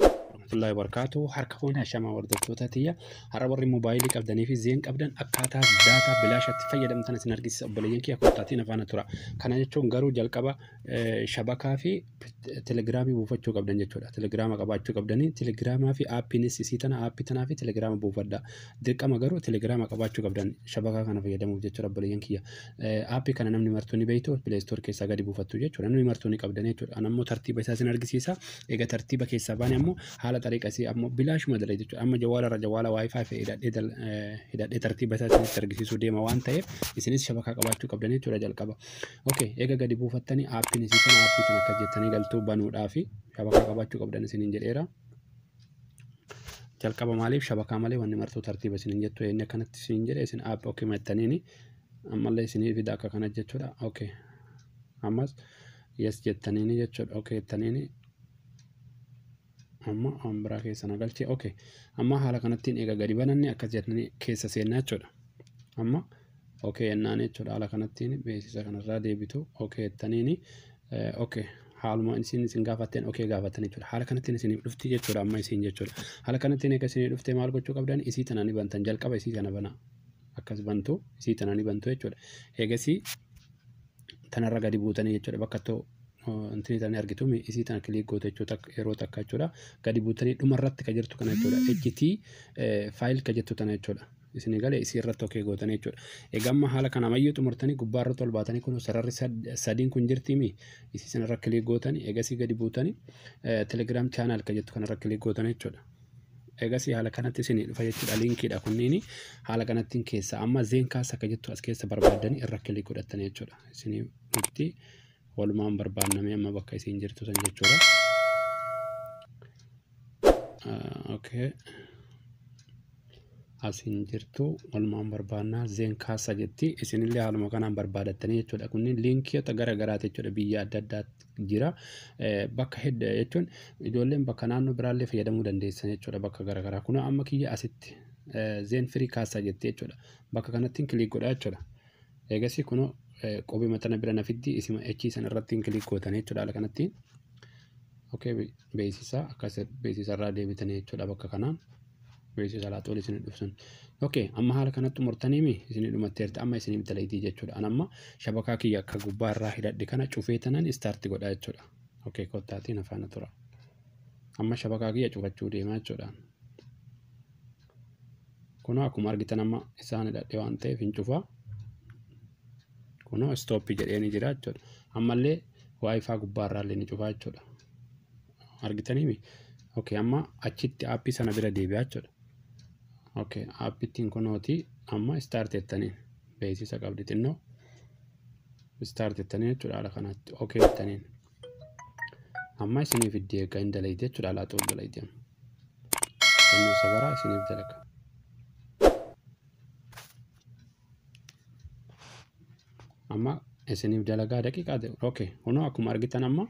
warahmatullahi wabarakatuh harka fuune ashamaa hordoftoota tiyya har'a warri moobaayilii qabdanii fi zeen qabdan akkaataa daataa bilaashatti fayyadamtan isin argisiisa obboleeyyan kiyya koottaatiin afaana tura kana jechuun garuu jalqaba shabakaa fi telegiraamii buufachuu qabdan jechuudha telegiraama qabaachuu qabdanii telegiraamaa fi aappiinis isii tana aappii tanaa fi telegiraama buufadha dirqama garuu telegiraama qabaachuu qabdan shabakaa kana fayyadamuuf jechuudha obboleeyyan kiyya Aappii kana namni martuu ni beektu Play Store keessaa gadi buufattu jechuudha. Namni martuu ni qabdan jechuudha. An ammoo tartiiba isaa isin argisiisa. Egaa tartiiba keessaa baane ammoo haala xariiqa isii ammoo bilaashuma dala jechuudha. Amma jawaala irra jawaala wifi fi hidhadhee dal- eh, hidhadhee tartiiba isaa isinitti argisiisuu deema waan ta'eef isinis shabakaa qabaachuu qabdan jechuudha jalqaba. Okay, egaa gadi buufattanii aappiin isii kana aappii kana akkas jettanii galtuu banuudhaa fi shabakaa qabaachuu qabdan isiniin jedheera. jalqaba maaliif shabakaa malee wanni martuu tartiiba isiniin jettu inni akkanatti isiniin jedhe isin app ok mattaniini ammallee isinii fida akka kana jechuudha ok ammas yes jettaniini jechuudha ok jettaniini amma waan biraa keessa na galche ok amma haala kanattiin eega gadi bananne akkas jettanii keessa seennaa jechuudha amma ok jennaan jechuudha haala kanattiin beeksisa kanarraa deebitu ok jettaniini ok haaluma isin isin gaafatteen ok gaafattan jechuudha haala kanattiin isinif dhufti jechuudha amma isin jechuudha haala kanattiin eega isinii dhufte maal gochuu qabdan isii tana ni bantan jalqaba isii tana bana akkas bantu isii tana ni bantu jechuudha eegasii tanarra gadi buutanii jechuudha bakka too intini tana argitu mi isii tana kiliik goote jechuudha yeroo takka jechuudha gadi buutanii dhuma irratti ka jirtu kana jechuudha HT faayil ka jettu tana jechuudha isinii gale isii irratti okee gootanii jechuudha. Egaa amma haala kana mayyuu xumurtanii gubbaa irratti ol baatanii kun sararri sadiin kun jirtiimi isii sana irra kilik gootanii egasii gadi buutanii telegram channel kan jettu kana irra kilik gootanii jechuudha. Egasii haala kanatti isinii dhufa jechuudha linkiidha kunniin haala kanattiin keessa amma zeenkaas akka jettu as keessa barbaadanii irra kilik godhattanii jechuudha. Isinii dhufti walumaan barbaannamee amma bakka isiin jirtu san jechuudha. okay asiin jirtu walumaan barbaannaa zeen kaasa jetti isinillee haaluma kanaan barbaadattanii jechuudha kunniin liinkiyoota gara garaati jechuudha biyya adda addaatti jira bakka hedda jechuun ijoolleen bakka naannoo biraallee fayyadamuu dandeessan jechuudha bakka gara garaa kunoo amma kiyya asitti zeen firii kaasa jetti jechuudha bakka kanattiin kiliik godha jechuudha eegasii kunoo qubee maxxana bira na fiddi isima echii san irrattiin kiliik gootan jechuudha haala kanattiin okay beeksisa akkas beeksisa irraa deebitanii jechuudha bakka kanaan beeksisa laatu ol isin dhufsun. Okay, amma haala kanatti murtaniimi isin dhumatteerti amma isin bitaleetii jechuudha. An amma shabakaa kiyya akka gubbaa irraa hidhadhe kana cufee tanan istaarti godha jechuudha. Okay, kottaatiin afaana tura. Amma shabakaa kiyya cufachuu deemaa jechuudha. Kunoo akkuma argitan amma isaan hidhadhe waan ta'eef hin cufa. Kunoo istooppi jedhee ni jira jechuudha. Ammallee waayifaa gubbaarraa illee ni cufa jechuudha. Argitaniimi? Okay, amma achitti aappii sana bira deebi'aa jechuudha. Okay, aappittiin kunooti amma istaarti jettaniin beeksisa qabdi xinnoo. Istaarti jettaniin jechuudha haala kanatti. Okay jettaniin. Amma isiniif itti eega hin dalaydi jechuudha alaa ta'uu dalaydi amma. Sanyii sabaraa isiniif dalaga. Amma isiniif dalagaa daqiiqaa ta'e. Okay. Kunoo akkuma argitan amma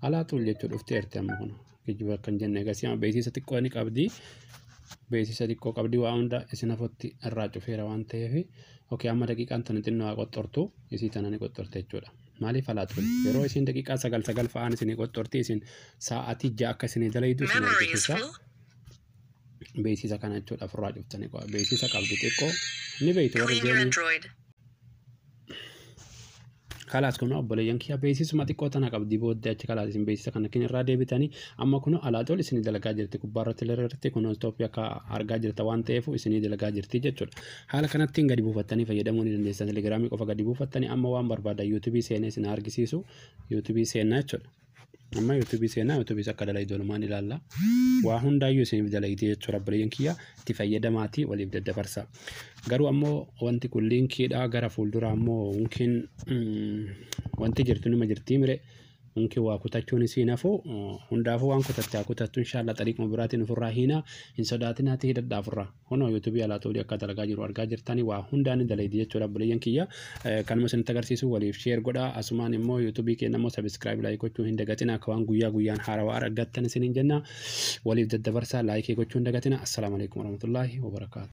alaa ta'uu jechuudha dhuftee erti amma kunoo. Geejjiba akka hin jenne egaa amma beeksisa xiqqoo ni qabdi. Beeksisa xiqqoo qabdi waa hunda isin afootti irraa cufeera waan ta'eef. Okay amma daqiiqaan tana xinnoo haa qoxxortu isii tana ni qoxxorte jechuudha. Maaliif halaatuun? Yeroo isiin daqiiqaa sagal sagal fa'aan isinii qoxxortii isin sa'aatii ja'a akka isinii dalaydu isin argisiisa. Beeksisa kana jechuudha ofirraa cuftanii qo'a. Beeksisa qabdi xiqqoo ni beektu warri jeeniin. Kalaas kun obboleeyyan kiyya beeksisuma xiqqoo tana qabdi booddee achi kalaas isin beeksisa kana kin irraa deebitanii amma kun alaatool isinii dalagaa jirti gubbaa irratti illee irratti kun Itoophiyaa akka argaa jirta waan ta'eef isinii dalagaa jirti jechuudha. Haala kanattiin gadi buufattanii fayyadamuu ni dandeessan. Telegiraamii qofa gadi buufattanii amma waan barbaadan yuutuubii seenee isin argisiisu yuutuubii seenaa jechuudha. Amma yuutuubii seenaa yuutuubiis akka dalaydu walumaan ilaalla. Waa hundaayyuu isiniif dalaydee jechuudha obboleeyyan kiyya itti fayyadamaatii waliif daddabarsa. Garuu ammoo wanti kun liinkiidha gara fuulduraa ammoo yookiin wanti jirtu nima jirtii mire Unki waa kutachuun isiin hafu hundaafuu waan kutatte haa kutattu inshaallah xariiquma biraatiin ofirraa hiinaa hin sodaatinaati hidhadhaa ofirraa kunoo yuutuubii alaa xoolii akka dalagaa jiru argaa jirtanii waa hundaa ni dalaydi jechuudha obboleeyyan kiyya kanuma isinitti agarsiisu waliif sheer godhaa asumaan immoo yuutuubii keenya immoo sabiskiraayib laayik gochuu hin dagatina akka waan guyyaa guyyaan haarawaa argattan isiniin jenna waliif daddabarsaa laayikii gochuu hin dagatina assalaamu alaikum warahmatullaahi wabarakaatu